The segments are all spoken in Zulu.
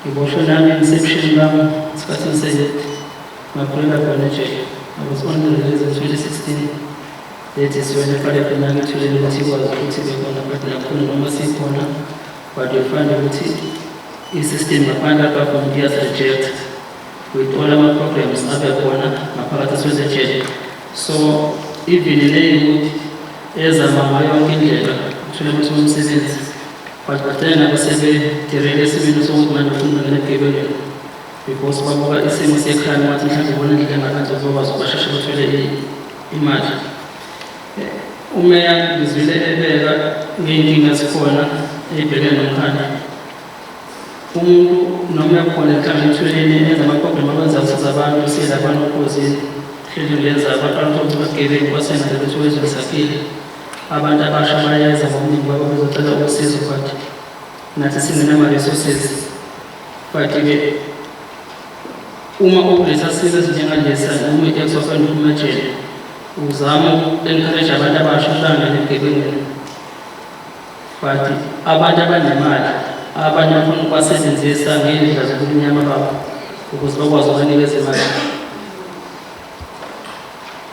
Ngiboshwe nami emsebshini bami isikhathi eside ngaphulela khona ejele. I was on the release in 2016 lethi siwena eqalekhe nangithulele ukuthi ikwazi ukuthi bekhona but nakhona noma sikhona but you find ukuthi i-system ngaphandle abavuma ukuyazireject uyithola ama-problems abe khona ngaphakathi eswezejele so even leyi ukuthi ezama ngayo yonke indlela uthole ukuthi umsebenzi Badokotela basebedilele esimeni sokuthi manje ufuna ukungena ebugebengeni because babuka isimo sekhaya wathi mhlawumbe ubona indlela engakade uzokwazi ukubasheshe bathole i- imali Eh, umeya ngizwile ebeka ngey'nkinga zikhona ey'bhekene nomkhaya umuntu noma ekhona enhlanganithweni enza amaproblem abenza kusiza abantu siyelapha nokhozini hleli ngenza abantu abantu bagebengu basenza ukuthi wezwe lisaphile Abantu abasha bayeza ngobuningi babo bezocela usizo but nathi singenama resources but-ke uma ukulesa simo esinjengalesa noma uyithe sokwenda uphuma ejele uzama uku-encourage abantu abasha uhlangane egebengweni but abantu abanemali abanye bafuna ukubasebenzisa ngey'ndlela zokubunyama babo ukuze bakwazi ukubanikeza imali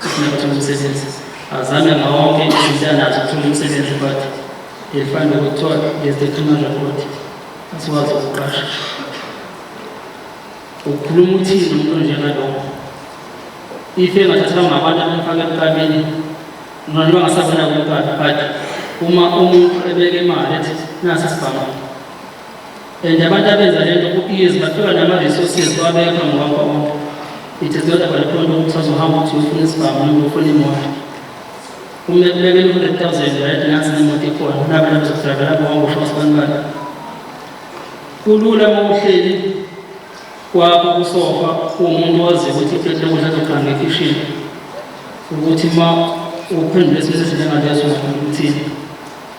Singathola umsebenzi. Azame ngawonke izindlela athola umsebenzi but ngifanda ukuthola ngezethuma report asikwazi ukuqasha. Ukhuluma uthini umuntu njengalokho? Ife engathathwa ngabantu abamfaka ebukameni noma bangasabona kuqala but uma umuntu ebeke imali ethi nasi sibhama and abantu abenza lento ku-ease bathola nama-resources bawabekha ngokwakho bonke it is not about khona ukuthi azohamba ukuthi ufuna isibhamu noma ufuna imoto uma ekubekela u-hundred thousand right nansi nemoto ikhona nabantu bezokudravela bonke usho sibanibani kulula uma uhleli kwakho kusofa kuwumuntu owaziyo ukuthi ifethi lokudla azoqanga ekhishini ukuthi uma uphendule isimo sesinjengaleso uthini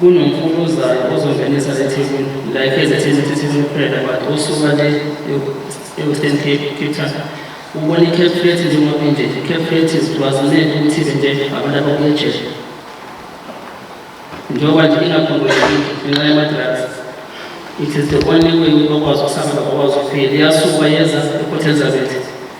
kunomfukuzana ozongenisa le thebuli like ezethini ukuthi thebuli kuphela but osuka le e-western cape cape town ubona i-cap flat njengoba inje i-cap flat zigcwazanele ukuthi nje abantu abakuye ejele njengoba nje ingakhongoyekile ngenxa yama-drugs it is the only way ukuthi bakwazi ukusabela bakwazi ukuphila iyasuka yeza e-port elizabeth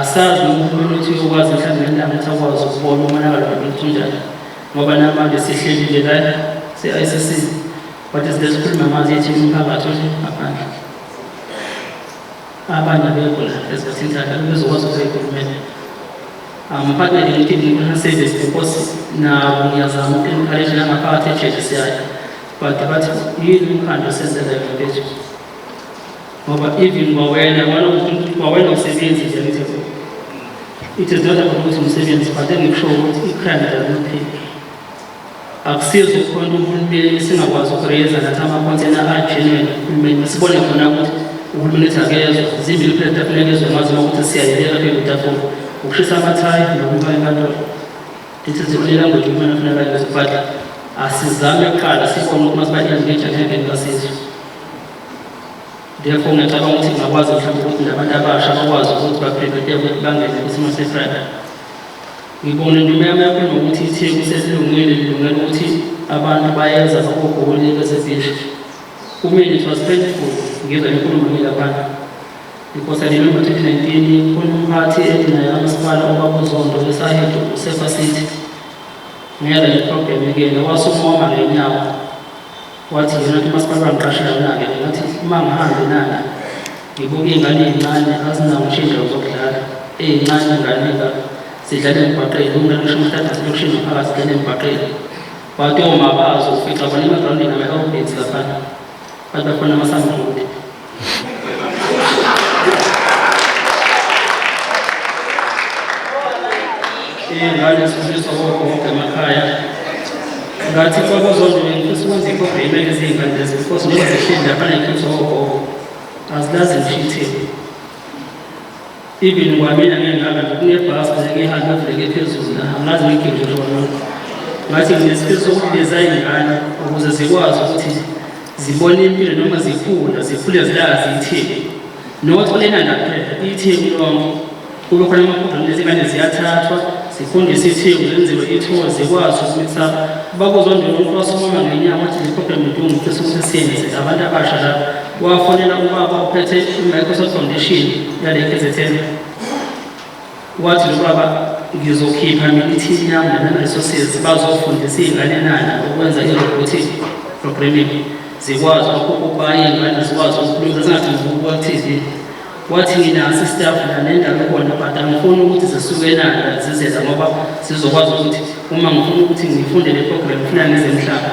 asazi noma uhulumeni uthi uyokwazi mhlawumbe nendaba ukuthi akwazi ukubona umonakalo womuntu unjani ngoba namanje sihlelile lana se-icc but sikhuluma manje yethi umphakathi othi ngaphandle abanye abekho la esikhathini sakhe bezokwazi ukuyikhulumela amuphathele ngithi ngifuna service because nabo ngiyazama uku-encourage nangaphakathi ejelisiyayo but bathi yini umkhandlu osenzela yona phezulu ngoba even kwawena kwawena usebenzi nje mthetho it is not about ukuthi umsebenzi but engikusho ukuthi ikhanda lakuphi akusizi ukukhona uhulumeni singakwazi ukureyeza nathi amakhonthena agenuine uhulumeni sibone khona ukuthi uhulumeni ethi akezwa zimbili kuphela tafula ekezwa ngazo ukuthi siyayeleka kuyokutafula ukushisa amathayi nokuba enkantolo ithi zikhulele ngothi umfana funa kanje but asizame kuqala sibone ukuthi masiba-engage athendeni kasizwe Therefore ngiyacabanga ukuthi ngingakwazi mhlawumbe ukuthi nabantu abasha bakwazi ukuthi baphepheteke ukuthi bangene kwisimo seFriday. Ngibona indima yami yakho nokuthi itheku sesilungile lilungela ukuthi abantu bayeza bakogoli besebhishi. Kumina it was painful ngizwa inkulumo le laphana. Because I remember 2019 kunomphathi ethi naye kamasipala obakuzondo esahedo usefa city. Ngiyala le problem ke wasukuhamba ngenyawo Wathi yena ke umasipala wangiqashela yona-ke ngathi uma ngihambe nana ngibuke iy'ngane ey'ncane azinawo ngisho iy'ndawo zokudlala ey'ncane inganeka sidlala emgwaqeni kumele kusho umthatha silokishini ngaphakathi sidlala emgwaqeni wathi omaba azofica bona emagrawundini ama-elbits laphana bathi bakhona amasambuti ingane sifundisa wonke wonke emakhaya ngathi kwakuzodwa ngifisa ukwenza ikhopha imele izingane lezi because noma zihleli lapha ngikhonza wonke wonke azilazi ngisho ithini Even kwamina ngengihamba nje kunebhasi nje ngihambe ngibheke phezulu la angazi ngigide khona. Ngathi nginesifiso sokubiza iy'ngane ukuze zikwazi ukuthi zibone impilo noma zikhula zikhule zilazi ithini. Not lena ndaphela ithini lonke kube khona amaphobhemu lezi ngane ziyathathwa zifundise ithini zenziwe ithiwa zikwazi ukuthi bakuzondela umuntu wasomama ngenyanga wathi ziphobhemu ntungu futhi sokuthi siyenze abantu abasha lapho wafonela ubaba ophethe i-microsoft foundation yale kzn wathi lo baba ngizokhipha ngithi yami nana-resources bazofundisa iy'ngane nana ukwenza i-robotic programming zikwazi ukubaye ingane zikwazi ukukhuluma zingadingi ukubuka ku-tv wathi nginaso istaff nanendawo khona but angifuni ukuthi zisuke nanda zizeza ngoba zizokwazi ukuthi uma ngifuna ukuthi ngifunde le program funa ngize mhlaba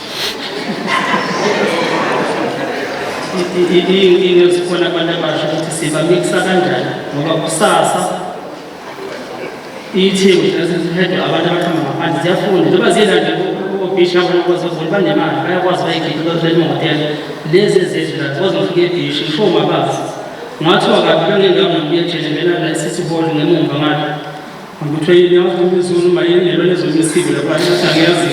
into esikhona abantu abasha ukuthi sibamikisa kanjani ngoba kusasa iyithimba ezihedwa abantu abaqhamba ngaphandle ziyafunda njengoba ziyelande obhisha abantu bazovula banemali bayakwazi bayigidi bazothola imotela lezi ezizwe nazo bazofika ebhishi ngisho mabazi ngathiwa kabi kangengamuye nje ngemena la sisiboli ngemumva ngalo Ngikuthwe yini yazi umizulu uma yini lelo lezomisiko lapha ngathi angiyazi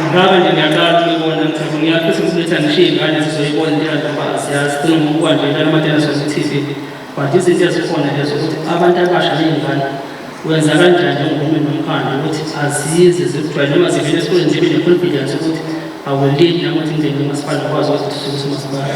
ngibaba nje ngiyaqala ukuyibona ngithe ngiyafisa ukuthi bethi angishiye ingane sizoyibona into yantoba asiyazi funa ngokuba nje la matena sozi TV but izinto ezikhona lezo ukuthi abantu abasha ney'ngane wenza kanjani njengomhulumeni nomkhandlu ukuthi azize zikujwayele noma zivele esikoleni zibe ne-confidence ukuthi awulindi nakuthi ngingene umasipala ngikwazi ukuzithuthukisa umasipala